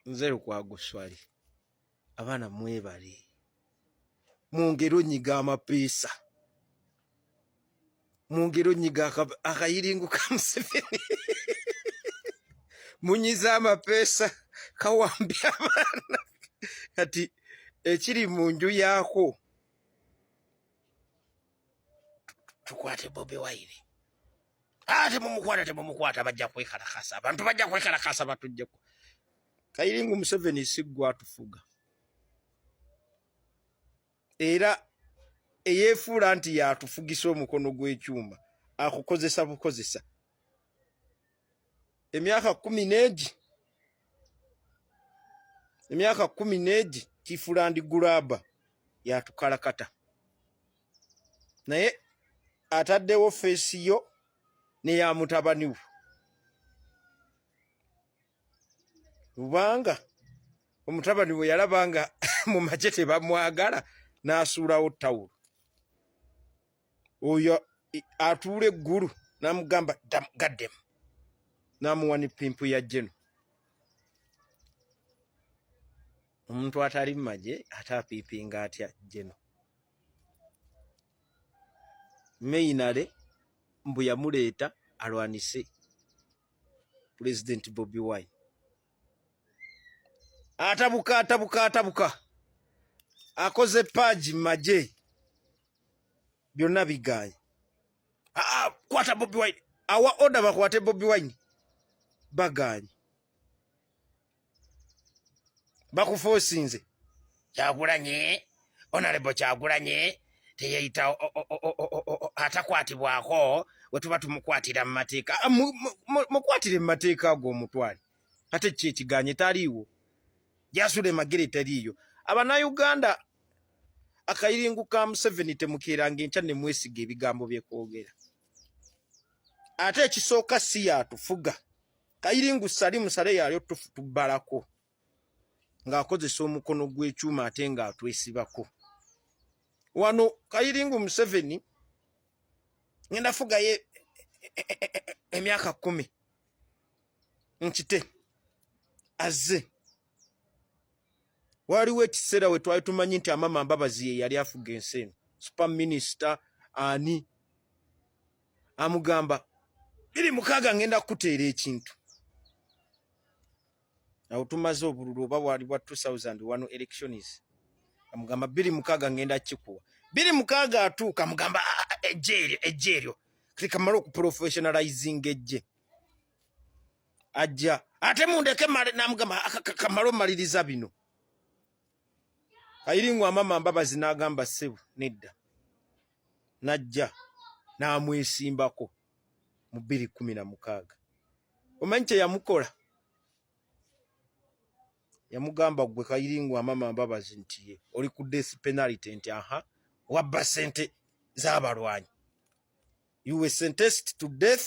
nze lukwago swali abaana mwebale mwongere onyiga amapeesa mwongere onyiga akayiringu ka museveni munyize amapeesa kawambi abaana kati ekiri mu nju yaako tukwate bobi wayire ah, temumukwata temumukwata bajja kwekalakasa abantu bajja kwekalakasa batujjeko kayiringu museveni siggwa atufuga era eyefuula nti yatufugisa omukono gw'ekyuma akukozesa bukozesa emyaka kumi n'egi emyaka kumi n'egi tifulandi gulaba yatukalakata naye ataddewo feesi yo neya mutabani we kubanga omutabani we yalaba nga mu magye tebamwagala n'asuulawo tawulo oyo atuula eggulu namugamba gaddemu namuwa ne pimpu ya jeno omuntu atali mumagye ate apiipinga atya jeno meinale mbu yamuleeta alwanise pulezidenti bobi wine atabuka atabuka atabuka akoze paaji mumagye byonna bigaanye. Ah, ah, kwata Bobi Wine, awa oda bakwate Bobi Wine, bagaanye bakufoosinze kyakulanye onalebo kyakulanye teyeyita atakwatibwako wetuba tumukwatira mu mateeka ah, mukwatire mu mateeka ago omutwale ate ki ekiganye taliiwo jasula emagere teriiyo abanauganda akayiringu ka museveni temukeeranga enkya ne mwesiga ebigambo bye kwogera ate ekisooka si yatufuga kayiringu sali musale yalyo tufu tubbalako ng'akozesa omukono gw'ekyuma ate ng'atwesibako wano kayiringu museveni ngenda fugayo e, e, e, emyaka kumi nkite azze waliwo ekiseera we twali tumanyi nti amama mbabazi ye yali afuga ensi eno super minister ani amugamba biri mukaaga ngenda kukuteera ekintu awo tumaze obululu oba bwali bwa 2001 elections amugamba biri mukaaga ngenda kikuwa biri mukaaga atuuka amugamba ah, ah, ah, ejje eryo ejje eryo kati kamala okuprofessionalizing ejje ajja ate mundeke namugamba kamala omaliriza bino ayiringwa amama mbabazi n'agamba ssebo nedda n'ajja n'amwesimbako mu bbiri kumi na mukaaga omanyi kye yamukola yamugamba gwe kayiringwa amama mbabazi nti ye oli ku death penality nti aha wabba sente z'abalwanyi you were sentenced to death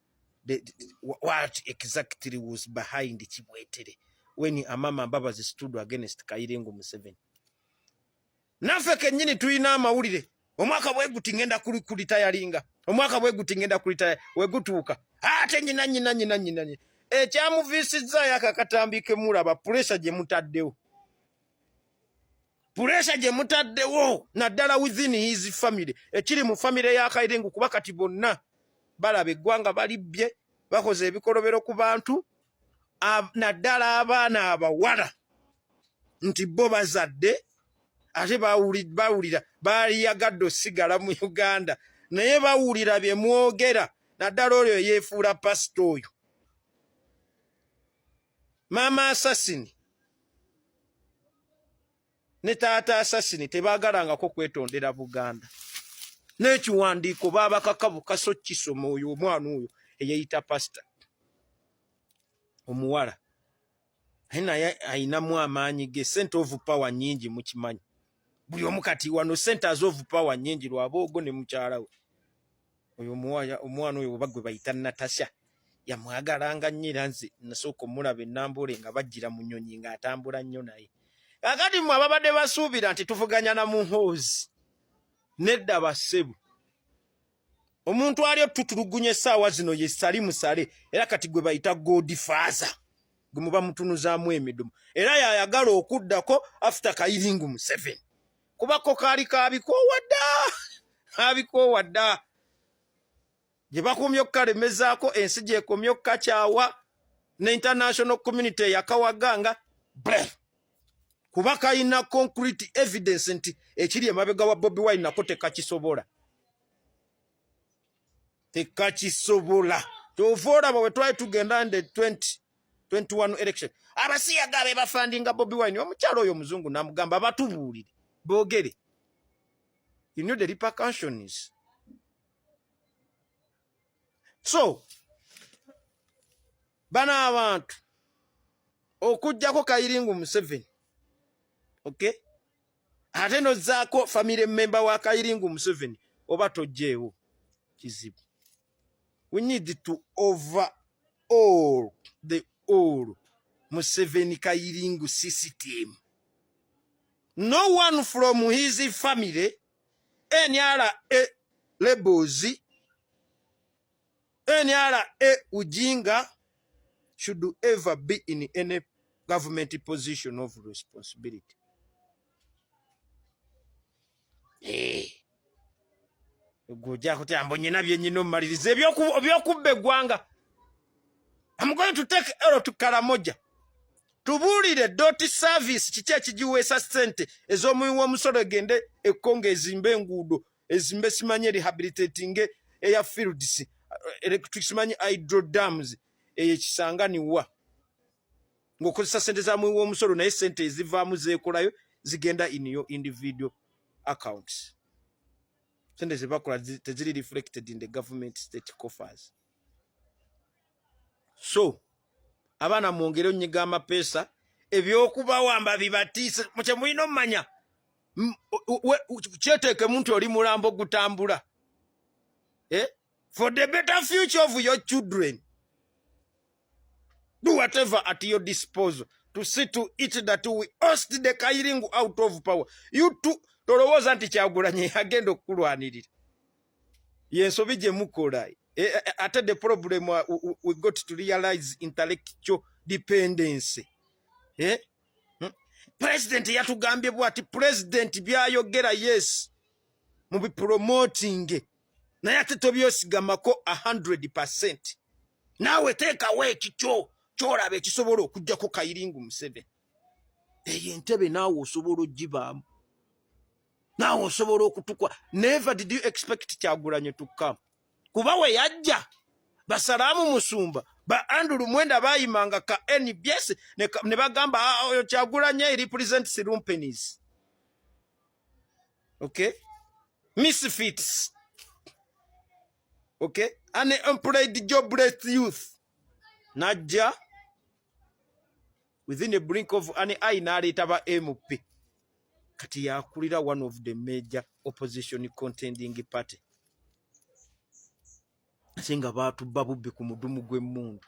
the, the, what exactly was behind Kibwetere when Amama Mbabazi stood against Kairengo Museveni. Nafe kenyini tuina amawulire omwaka bweguti ngenda kulitayalinga omwaka bweguti ngenda kulitaya wegutuuka ate nyina nyina nyina nyina nyina ekyamuviisizza yako akatambi kemulaba puleesa gye mutaddewo puresha gye mutaddewo naddala within his family ekiri mu famire ya kairengo kuba kati bonna balaba eggwanga balibbye bakoze ebikolobero ku bantu naddala abaana abawala nti bo bazadde ate bawulira baliyagadde osigala mu uganda naye bawulira bye mwogera naddala oyo eyeefuula pasita oyo maama asasini ne taata asasini tebaagalangako kwetondera buganda n'ekiwandiiko baabakaka bukasa okukisoma oyo omwana oyo eyeyita pasita omuwala naye naye ayinamu amaanyi ge sente ovu pawa nyingi mukimanyi buli omu kati wano sente azovu pawa nyingi lwaboogo ne mukyala we oyo omwana oyo oba gwe bayita natasha yamwagalanga nnyo era nze nasooka omulaba enambuule nga bajjira mu nyonyi nga atambula nnyo naye kakati mwe ababadde basuubira nti tuvuganya na muhoozi nedda bassebu omuntu ali otutulugunya essaawa zino ye sali musale era kati gwe bayita godi faaza gwe muba mutunuzaamu emidumu era yayagala okuddako after kayiringu museveni kubako kaali kabikoowa dda kabikoowa dda gye bakomye okukalemezaako ensi gyekomye okukakyawa ne international community eyakawaganga bre kuba kalina concrete evidence nti ekiri emabega wa Bobi Wine nako tekakisobola tekakisobola kyova olaba we twali tugenda nde 20 21 election abasiyaga be bafandinga Bobi Wine omukyalo oyo muzungu namugamba batubuulire boogere you know the repercussions so bano abantu okujjako kayiringu museveni okay ate nozaako famire memba wa kayiringu museveni oba tojjeewo kizibu we need to over all the all museveni kayiringu system no one from his family NRA labels, NRA Ujinga should ever be in any government position of responsibility. Hey. Eh. Gwoja kutya mbo nyina bye nyina omaliriza ebyokubba eggwanga. I'm going to take Ero to Karamoja. Tubuulire doti service kiki ekigiweesa ssente ez'omuwi w'omusolo egende ekkonga ezimbe enguudo ezimbe simanye rehabilitatinge eya fields electric simanye hydro dams eyo ekisanganiwa ng'okozesa ssente za muwi w'omusolo naye ssente ezivaamu zeekolayo zigenda in your individual accounts ssente ze bakola teziri reflected in the government state coffers so abaana mwongere onyiga amapeesa ebyokubawamba bibatiise mukye mulina omumanya kyeteekemu nti oli mulambo gutambula eh? for the better future of your children do whatever at your disposal to see to it that we host the kairingu out of power you tolowooza nti kyagulanyi agenda okukulwanirira yensobi gye mukola e, e, e, ate the problem uh, we got to realize intellectual dependency eh? Hmm? president yatugambye bwati president byayogera yes mu bipromotinge naye ate tobyosigamako 100 percent naawe teekawo ekikyo kyolaba ekisobola okujjako kayiringu museveni eyo entebe naawe osobola ogibaamu naawe osobola okutukwa never did you expect kyagulanye tukkamu kuba we yajja basalaamu musumba ba andulu mwenda bayimanga ka nbs ne bagamba ah, ah, oyo kyagulanye e represents lumpenis okay misfits okay an employed jobless youth najja within a brink of an eye n'aleeta ba MP kati yakulira one of the major opposition contending party ate nga baatubba bubbi ku mudumu gw'emmundu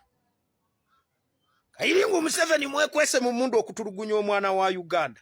kayiringa omuseveni mwekwese mu mundu okutulugunya omwana wa uganda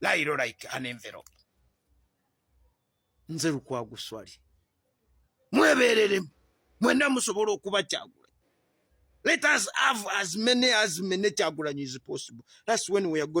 layiro like an envelope nze lukwagu swali mwebereremu mwena musobola okuba kyagula let us have as many as many kyagulanyi is possible that's when we are going